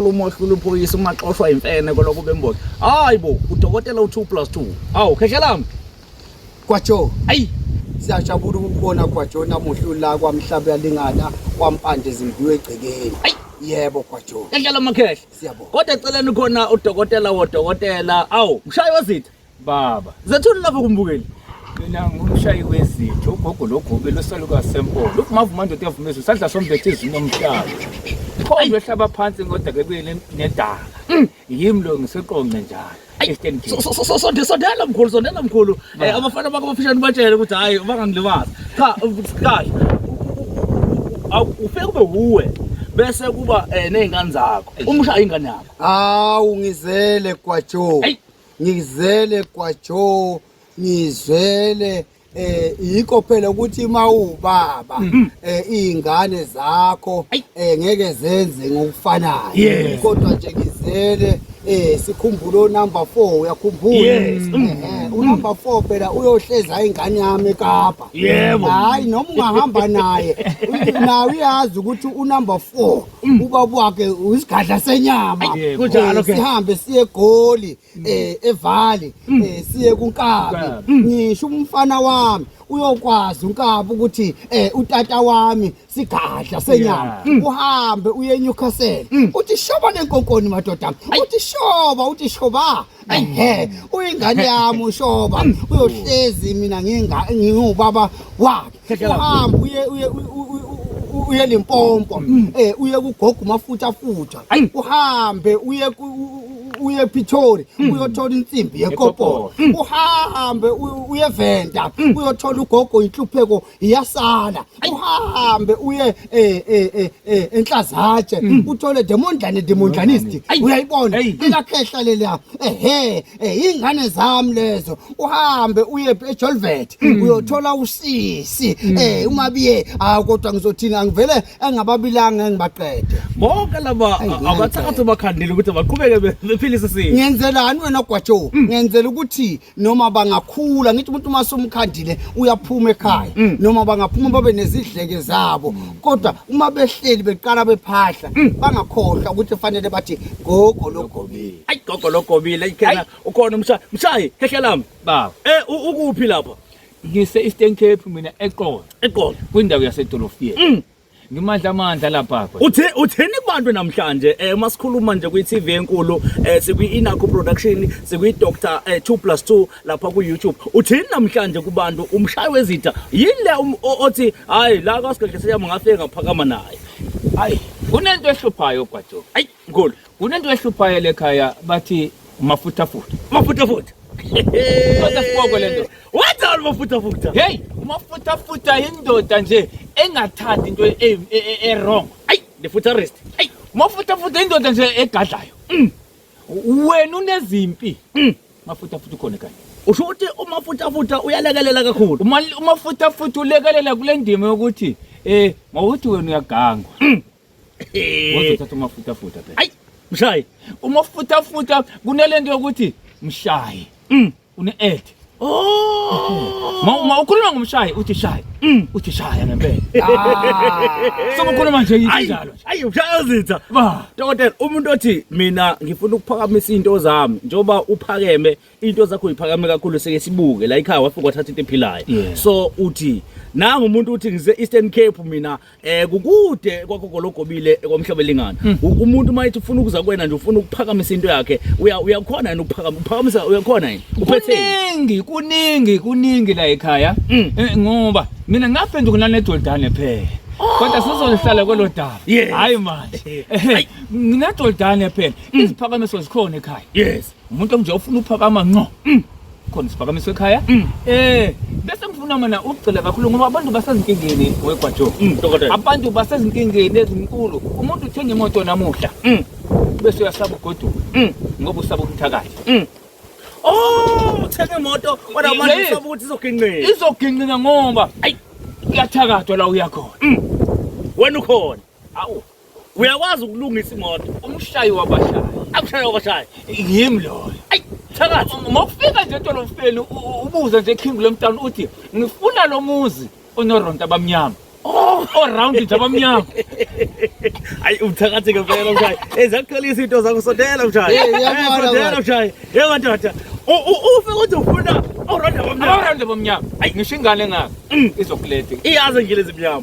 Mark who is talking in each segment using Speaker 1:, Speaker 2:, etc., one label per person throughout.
Speaker 1: ukhuluma ohlula uphoyisa uma xoshwa imfene koloko bemboza hayi bo udokotela u2 plus 2 awu khehlelam kwajo
Speaker 2: ayi
Speaker 1: siyajabula
Speaker 2: ukubona kwajo namuhla ula kwamhlaba yalingana kwampande zimbiwe egcekeni ayi yebo kwajo khehlela makhehle
Speaker 1: siyabonga kodwa eceleni
Speaker 2: khona
Speaker 1: udokotela wodokotela awu mshayi wezitha Baba, zathula
Speaker 3: lapho kumbukeli.
Speaker 1: Mina ngumshayi
Speaker 3: wezitho, ugogo logobe losaluka sempolo. Ukuvuma ndoda yavumezwe sadla sombethe izini omhlaba. Khona ehlaba phansi ngoda ke kuye nedala. Mm. Yimi lo ngiseqonqe njalo. Eastern Cape. So- so- so- sonde- sondela mkhulu
Speaker 1: sondela mkhulu Eh, abafana bakho abafishane ubatshele ukuthi hhayi bangangilimazi cha kahle ufike kube wuwe bese kuba um ney'ngane zakho umshaye ingane yakho Hawu
Speaker 2: ngizele kwaJoe. Ayi. ngizele kwajo ngizele eh yikho phela ukuthi uma ubaba mm-hmm. eh izingane zakho eh ngeke zenze ngokufanayo kodwa nje ngizele eh sikhumbula onumber 4 uyakhumbula eh, mm-hmm. unumber 4 phela uyohleza ingane yami eKapa yebo hayi noma ungahamba naye nawe uyazi ukuthi unumber 4 Mm. ubaba wakhe uyisigadla senyama Yeah, kunjalo Eh, ke. sihambe
Speaker 1: siye egoli
Speaker 2: eh evali Mm. eh siye kunkabi Nkabi. ngisho umfana wami uyokwazi unkabi ukuthi eh utata wami sigadla senyama Yeah. Mm. uhambe uye eNewcastle uthi shoba lenkonkoni madoda uthi shoba uthi shoba ehe uyingane yami ushoba uyohlezi mina nginga ngiwubaba wakhe uhamba uye uye uye limpompo mm. eh uye kugoga umafutha futha uhambe uye uye Pretoria mm. uyothola insimbi yekopolo mm. uhambe uye Venda uyothola ugogo inhlupheko iyasala uhambe uye eh eh eh, eh enhlazatshe uthole demondlane demondlanist uyayibona ikakhehla leliya ehe Eh ingane zami lezo uhambe uye eJolvet hmm. uyothola usisi hmm. eh uma biye ah kodwa ngizothina angivele engababilanga ngibaqede bonke laba
Speaker 1: abathathu bakhandile ukuthi baqhubeke bephilise sisi ngenzelani wena gwajo
Speaker 2: hmm. ngenzela ukuthi noma bangakhula ngithi umuntu uma somkhandile uyaphuma ekhaya noma bangaphuma babe nezidleke zabo kodwa uma behleli beqala bephahla bangakhohlwa ukuthi kufanele bathi gogo logogo ayi gogo logobile
Speaker 1: ikhela ukhona umshayi mshayi khehla lami baba eh
Speaker 3: ukuphi lapha
Speaker 1: ngise Eastern
Speaker 3: Cape mina eqolo eqolo kwindawo yasedolofiyeni mm. ngimandla amandla lapha uthe utheni kubantu
Speaker 1: namhlanje eh uma sikhuluma nje kwi TV enkulu eh sikwi Inaku production sikwi Dr 2+2 eh, lapha ku YouTube utheni namhlanje kubantu umshayi wezitha yini le um, othi hayi la kasigedle siyama ngafika ngaphakama naye hayi
Speaker 3: kunento ehluphayo gwajo ayi Mkhulu,
Speaker 1: kunento ehluphayo
Speaker 3: lekhaya bathi umafuthafuta. Umafuthafuta. Kodwa siboko lento. What all umafuthafuta?
Speaker 1: Hey,
Speaker 3: umafuthafuta indoda nje engathandi into e, e, e, e wrong. Ay, the
Speaker 1: futurist. Ay, umafuthafuta
Speaker 3: indoda nje egadlayo. Mm. Wena unezimpi. Mm. Mafuthafuta ukhona ekhaya. Usho ukuthi
Speaker 1: umafuthafuta uyalekelela kakhulu. Umafuthafuta
Speaker 3: ulekelela kule ndima yokuthi eh mawuthi wena uyagangwa. Mm. Waze uthatha umafutafuta phela. Ayi, mshayi.
Speaker 1: Umafutafuta
Speaker 3: kunelento yokuthi mshayi. Mm. Une add. Oh. Ma ma ukhuluma ngomshayi uthi shayi. Mm. Uthi shaya ngempela. Ah. So ukhuluma nje injalo. Ayi, mshayi uzitha.
Speaker 1: Ba. Dokotela, umuntu othi mina ngifuna ukuphakamisa into zami njoba uphakeme into zakho iphakame kakhulu seke sibuke la ikhaya wafika wathatha into ephilayo Yeah. so uthi nangu umuntu uthi ngise Eastern Cape mina eh kukude kwakogologobile ekwamhlabelingana Hmm. U- umuntu mayithi ufuna ukuza kwena nje ufuna ukuphakamisa into yakhe uya uyakhona yini ukuphakama uphakamisa uyakhona yini uphethe kuningi
Speaker 3: kuningi kuningi la ekhaya Mm. Eh, ngoba mina ngaphenduka nanedodane phela kodwa sizolihlala kwelo daba Yes. hayi manje Ayi. nginedodane phela iziphakamiso zikhona ekhaya yes umuntu onje
Speaker 1: ufuna
Speaker 3: uphakama nqo mm. khona siphakamiswe ekhaya mm. eh bese ngifuna mina ukugcila kakhulu ngoba abantu basezinkingeni wegwajo mm, abantu
Speaker 1: basezinkingeni
Speaker 3: ezinkulu umuntu uthenga imoto namuhla bese uyasaba ugoduka ngoba usaba umthakathi oh
Speaker 1: uthenga imoto kodwa abantu usaba ukuthi izoginqika izoginqika
Speaker 3: ngoba ayi kuyathakathwa la uyakhona wena
Speaker 1: ukhona awu
Speaker 3: Uyakwazi
Speaker 1: ukulungisa imoto. Umshayi wabashayi.
Speaker 3: Akushaye wabashayi. Yimi loyo. Ayi thakathi.
Speaker 1: Uma ufika nje
Speaker 3: edolofeni ubuze nje King Lemtown uthi ngifuna lo muzi onoronta abamnyama. Oh, around nje abamnyama.
Speaker 1: Ayi uthakathi ke phela mshayi. Ezakutholisa into zakho sondela mshayi. Eh, eh, sondela mshayi. Yebo ndoda. Ufe uthi ufuna oronda abamnyama. Oronda
Speaker 3: abamnyama. Ayi ngisho ingane ngaka. Mm. Izokulethe. Iyazi ngile
Speaker 1: zimnyama.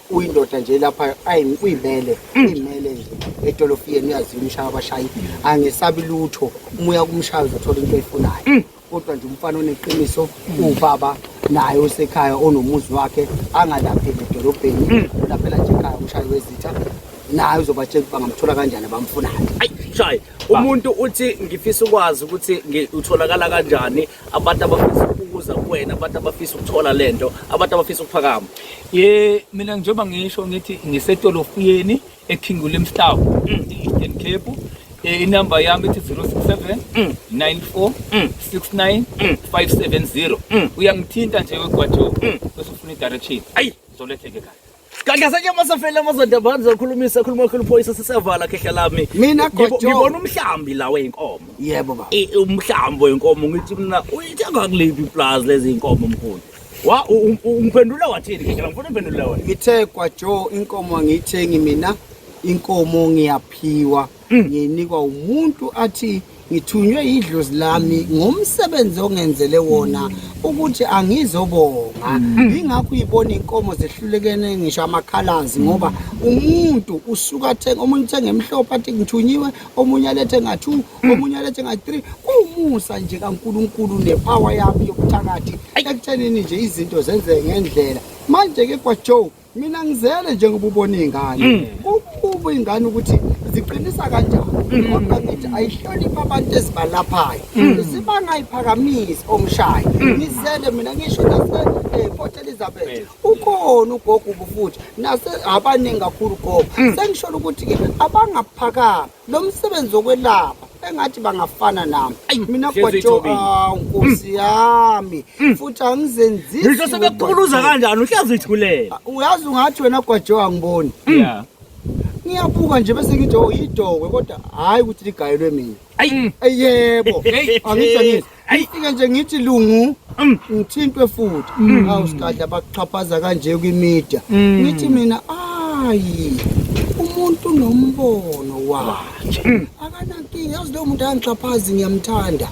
Speaker 2: uyindoda nje lapha ayi uyimele mm. uyimele nje edolofiyeni uyazini ushaya abashayi angesabi lutho umuya kumshaya uzothola into eyifunayo mm. kodwa nje umfana oneqiniso ubaba naye osekhaya onomuzi wakhe angalapheli edolobheni mm. ulaphela nje ekhaya umshayi wezitha naye uzobatshela ukuba ngamthola kanjani abamfunayo shayi
Speaker 1: umuntu uthi ngifisa ukwazi ukuthi utholakala kanjani abantu abafisa ukuza kuwena abantu abafisa ukuthola lento abantu abafisa ukuphakama ye mina
Speaker 3: njengoba ngisho ngithi ngisetolofiyeni eKing William Town mm. e-Eastern Cape eh, inamba yami ithi 067 94 69 570 uyangithinta nje wegwajo bese ufuna i-direction ayi zoletheke
Speaker 1: kahle
Speaker 3: Gadlasanye
Speaker 1: masafele amazoda bani zokhulumisa ekhuluma ekhulu phoyisa sisevala khehla lami. Mina Ngibo- gojo. Ngibona
Speaker 2: umhlambi
Speaker 1: la wenkomo. Yebo baba. I-
Speaker 2: Umhlambi wenkomo
Speaker 1: ngithi mina uyithenga kuliphi iplazi lezi inkomo mkhulu. Wa u- u- u- ungiphendula wathini khehla ngifuna imphendula wena. Ngithe kwaJo
Speaker 2: inkomo angiyithengi mina, inkomo ngiyaphiwa. Mm. ngiyinikwa umuntu athi ngithunywe idlozi lami ngomsebenzi ongenzele wona ukuthi angizobonga mm. ingakho uyibona inkomo zehlulekene ngisho amakhalazi ngoba umuntu usuka athenga omunye uthenga emhlophe athi ngithunyiwe omunye alethe nga-two mm. omunye alethe nga-three kuwumusa nje kankulunkulu nepower yami yokuthakathi ekuthenini nje izinto zenzeke ngendlela manje-ke kwajoe mina ngizele njengoba ubona iy'ngane mm. kukuba iy'ngane ukuthi ziqinisa kanjani mm. kodwa ngithi ayihloniphi abantu ezibalaphayo mm. zibangayiphakamisi omshayo ngizele mina ngisho nase-port eh, elizabeth ukhona ugogo ubufuthi nase abaningi kakhulu gogo sengisholo ukuthi-ke abangaphakami lo msebenzi wokwelapha engathi bangafana nami Ayi, mina hlezi gwajo ithobile. awu nkosi yami futhi angizenzisi Ngisho sebekuquluza
Speaker 1: ngogwajo. kanjani uhlezi ithulela. uyazi ungathi wena
Speaker 2: gwajo angiboni Yeah. ngiyabuka nje bese ngithi oh yidokwe kodwa hhayi ukuthi ligayelwe mina Ayi. Ey, yebo Hey. angitsho nini Ayifike nje ngithi lungu mm. ngithintwe futhi. Mm. Awu sikadla bakuxhaphaza kanje kwimedia. Mm. Ngithi mina ayi umuntu nombono wakhe. Akanankinga yazi lo muntu angixhaphazi ngiyamthanda.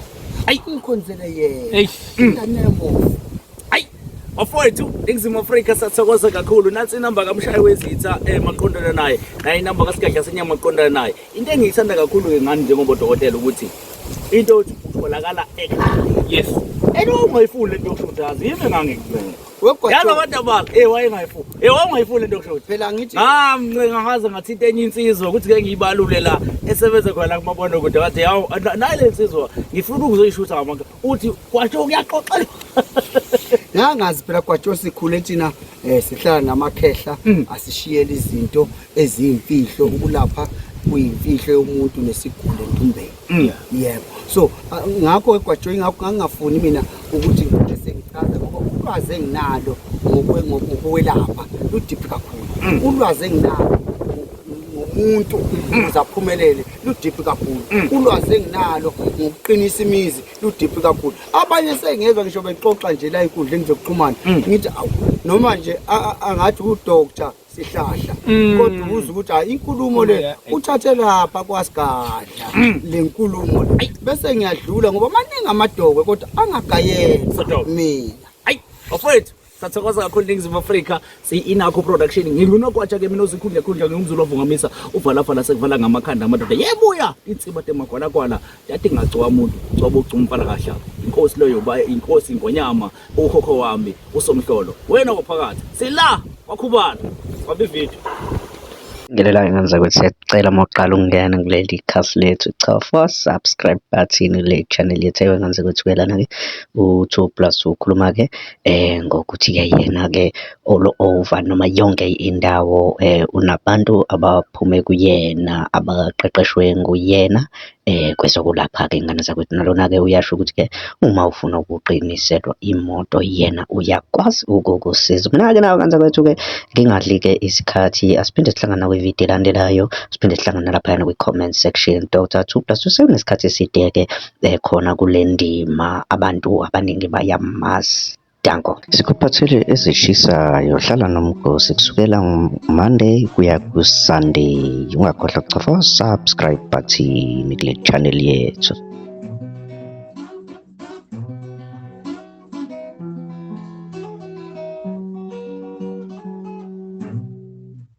Speaker 2: Ayi ngikhonzele yena. Eish. Ingane yabo.
Speaker 1: bafowethu ingizimu afrika sathokoza kakhulu nansi inamba kamshayi wezitha um eh, maqondana naye naye inamba kasigadla senyama maqondana naye Into engiyithanda kakhulu-ke ngani njengoba odokotela ukuthi into yokuthi utholakala ekhaya. Yes. And
Speaker 3: wawungayifuni
Speaker 1: le nto yokushodaza, yimi engangikubeka. Yazi abantu
Speaker 2: abakhe, eh
Speaker 1: wayengayifuni. Eh wawungayifuni le nto yokushoda. Phela ngithi ngamncenga
Speaker 2: ngaze
Speaker 1: ngathinta enye insizwa ukuthi ke ngiyibalule la esebenze khona la kumabonakude ngathi yawu nayi le nsizwa ngifuna ukuzoyishutha ngamanga. uthi kwatsho kuyaxoxelwa
Speaker 2: ngangazi phela kwatsho sikhule thina um sihlala namakhehla mm. asishiyela izinto eziyimfihlo ukulapha kuyimfihlo yomuntu nesiguli entumbeni mm. yebo so ngakho egwatsho ingakho ngangingafuni mina ukuthi ngibe sengichaza ngoba ulwazi enginalo ngokwelapha ludiphi kakhulu mm. ulwazi enginalo umuntu ukuze aphumelele ludiphi kakhulu mm. ulwazi enginalo ngokuqinisa imizi ludiphi kakhulu abanye sengezwa ngisho bexoxa nje la enkundleni zokuxhumana mm. ngithi awu noma nje angathi udoctor sihlahla mm. kodwa ubuza ukuthi hayi inkulumo le eh. uthathe lapha kwasigadla le nkulumo le bese ngiyadlula ngoba maningi amadokwe kodwa angagayela mina ayi bafowethu
Speaker 1: sathokoza kakhulu ningizimu afrika siyi-inakho production ngingunokwatsha ke mina ozikhundlekhundla ngingumzulu ovungamisa uvalafala sekuvala ngamakhanda amadoda yebuya insiba temagwalakwala yati ngagcowa muntu coba ugcuma umfana kahlaba inkosi leyo ba inkosi ingonyama ukhokho wami usomhlolo wena waphakathi sila wakhubala wambi video ngelela
Speaker 4: ingane zakwethu siyacela uma uqala ukungena kuleli khasi lethu chofa subscribe button kule channel yethu ewe ngane zakwethu kuyelana-ke u-two plus ukhuluma-ke ngokuthi-ke yena-ke all over noma yonke indawo unabantu abaphume kuyena abaqeqeshwe nguyena kwezokulapha-ke iy'ngane zakwethu. Nalona-ke uyasho ukuthi-ke uma ufuna ukuqiniselwa imoto yena uyakwazi ukukusiza. Mina-ke nawe Nkanzakwethu-ke ngingadli-ke isikhathi asiphinde sihlangane nakwividiyo elandelayo, siphinde sihlangane nalaphayana kwi-comment section. Doctor Thugh Plus usenesikhathi eside-ke ekhona kule ndima abantu abaningi bayamazi. Danko. Sikuphathele ezishisayo hlala nomgosi kusukela Monday kuya ku-Sunday. Ungakhohlwa kuchofa subscribe button kule channel yethu.